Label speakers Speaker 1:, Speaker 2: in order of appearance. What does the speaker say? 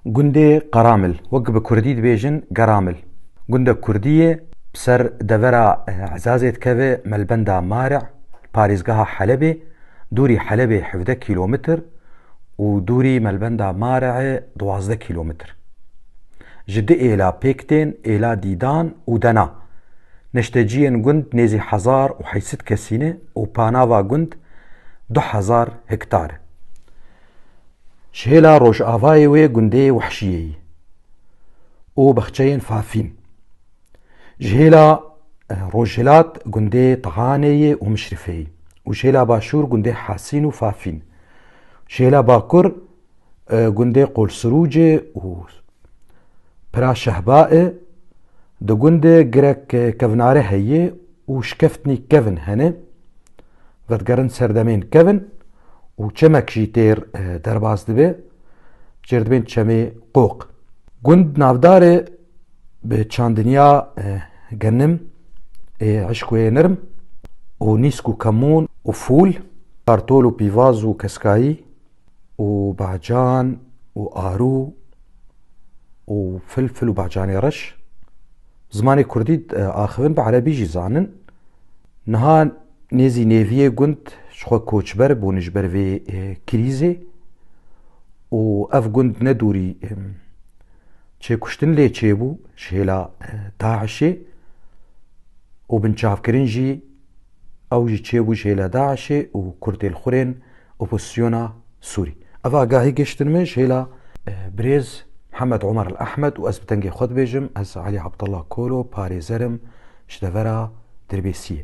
Speaker 1: Gundê Qaramil, wek bi kurdî dibêjin Garamil, gundek kurdî ye, bi ser devera Ezazê dikeve Melbenda Marî, li parêzgeha Helebê, dûrî Helebê hevdeh kîlometr û dûrî Melbenda Marîê duwazdeh kîlometr. Ji du êla pêk tên, êla Dîdan û Dena. Neşteciyên gund nêzî hezar û heyset kesî ne û panava gund du hezar hektar e. Ji hêla rojavayê wê gundê Wehşiyeyî û bexçeyên Fafîn, ji hêla rojhilat gundê Tihaneyê û Mişrifeyî û ji hêla başûr gundê Hasîn û Fafîn, ji hêla bakur gundê Qolsirûcê û Pira Şehbaê di gundê girek kevnare heye û şikeftnî kevn hene. vedigerin serdemên kevin û çemek jî têr derbas dibe çêrdibên çemê qoq. Gund navdarê bi çandinya genim ê eşkoyê nirm û nîsk û kemûn û fûl, kartol û pîvaz û keskayî, û bacan û arû û filfil û bacanê reş zimanê kurdî e, axivin bi erebî jî zanin. Niha nêzî nêviyê gund ji xwe koçber bûn ji ber vê e, krîzê û ev gund ne dûrî e, çêkuştin lê çêbû ji hêla e, DAIŞê û binçavkirin jî ew jî çêbû ji hêla DAIŞê û kurdên xurên Opozîsyona Sûrî. Ev agahî gihiştin min ji hêla birêz Hemed Omer El Ehmed û ez bi dengê xwe dibêjim ez Elî Abdullah Kolo parêzer im ji devera Dirbêsiyê.